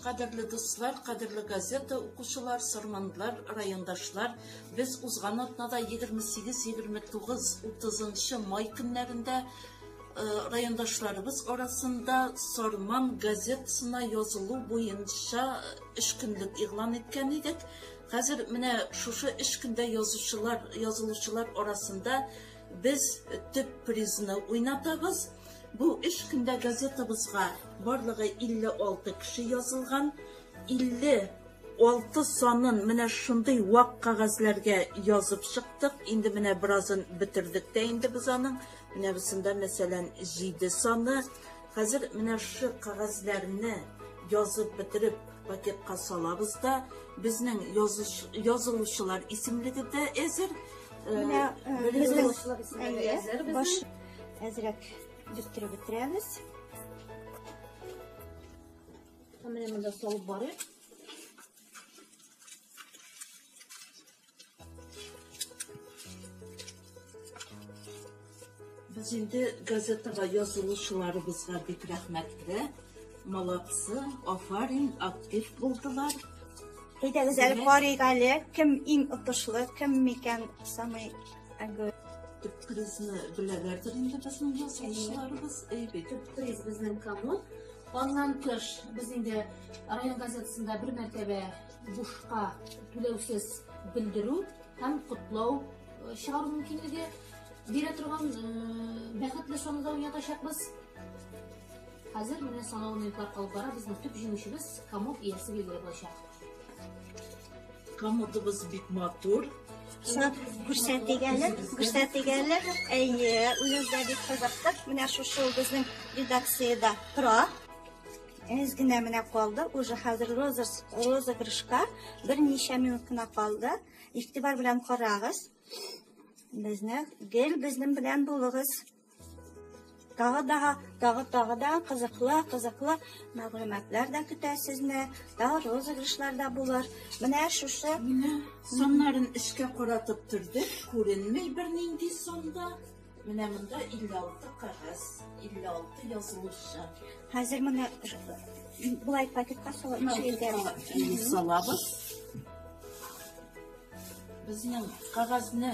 Кадерле дуслар, кадерле газета укучылар, сорманлар, райондашлар, без узган атнада 28, 29, 30 май көннәрендә райондашларыбыз арасында Сорман газетасына язылу буенча эш көнлек игълан иткән идек. Хәзер менә шушы эш көндә язучылар, язылучылар арасында без төп призны уйнатабыз. Бу өч көндә газетабызга барлыгы 56 кеше язылган. 56 санын менә шундый вак кәгазьләргә язып чыктык. Инде менә беразын бетердек тә инде без аның. Менә бусында, мәсәлән, 7 саны. Хәзер менә шушы кәгазьләрне язып бетереп пакетка салабыз да, безнең язылучылар исемлеге дә әзер. Менә безнең исемлеге әзер. Әзрәк бөттереп бетерәбез. Менә монда салып барыйк. Без инде газетага язылучыларыбызга бик рәхмәтле. Молодцы, афарин, актив булдылар. Әйдәгез әле карыйк әле, кем иң отышлы, кем микән самый Әгәр төп кризны беләләрдер инде безнең язучыларыбыз. Әйбәт. Төп криз безнең кому. Аннан тыш без инде район газетасында бер мәртәбә бушка түләүсез белдерү һәм котлау э, чыгару мөмкинлеге бирә торган э, бәхетле санауда уйнатачакбыз. Хәзер менә санау минутлар калып бара. Безнең төп җиңүчебез Камов иясе билгеле булачак. Комодыбыз бик матур. Шат күрсәтик әле, күрсәтик әле. Әйе, үзебез дә бик кызыктык. Менә шушы безнең редакциядә тора. Әз генә менә калды, уже хәзер розыгрышка берничә минут кына калды. Игътибар белән карагыз. Безне гел безнең белән булыгыз. Тагы да, тагы тагы да кызыклы, кызыклы мәгълүматлар да көтә сезне. Тагы розыгрышлар да булыр. Менә шушы Менә соннарын эшкә каратып төрдек, күренмей бернинди сонда. Менә монда 56 кагаз, 56 язылышы. Хәзер моны булай пакетка салып ишегә салабыз. Безнең кагазны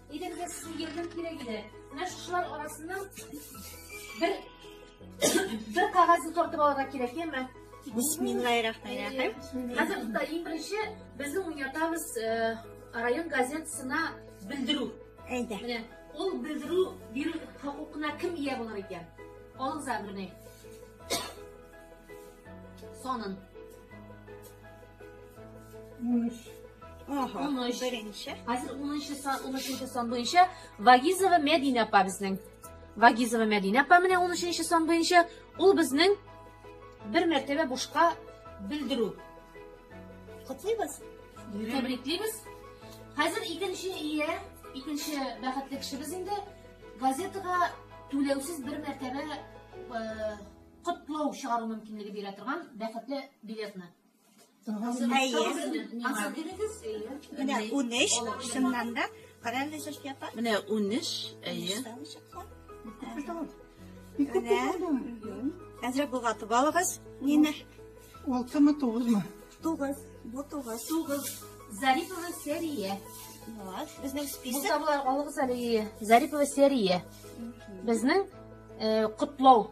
Идем дә сезнең ярдәм кирәк иде. Менә шушылар арасыннан бер бер кагазны тартып алырга кирәк, яме? Бисмиллаһиррахманиррахим. Хәзер туда иң беренче безнең уятабыз э, район газетасына белдерү. Әйдә. Менә ул белдерү бирү хокукына кем ия булыр икән? Алыгыз әмерне. Санын. Унөч. Ага. Унөч. Беренче. Хәзер унынчы сан, унөченче сан буенча Вагизова Мәдинә апа безнең. Вагизова Мәдинә апа менә унөченче сан буенча. Ул безнең бер мәртәбә бушка белдерү. Котлыйбыз. Тәбриклибез. Хәзер икенче ия, икенче бәхетле кешебез инде газетага түләүсез бер мәртәбә э, котлау чыгару мөмкинлеге бирә торган бәхетле билетны. Менә 13, шуннан да карәле җырчы апа. Менә 13, әйе. Менә. Әзрәк булгатып алыгыз. Нина. Алтымы, тугызмы? Тугыз. Бу тугыз. Тугыз. Зарипова Сәрия. Вот, безнең список. Бусаблар алыгыз әле. Зарипова Сәрия. Безнең котлау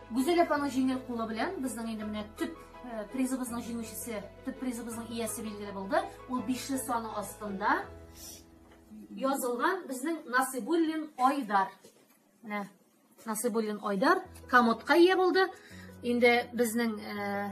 Гүзәл апаның җиңел кулы белән безнең инде менә төп э, призыбызның җиңүчесе, төп призыбызның иясе билгеле булды. Ул бишле саны астында язылган безнең Насыйбуллин Айдар. Менә Насыйбуллин Айдар комодка ия булды. Инде безнең э,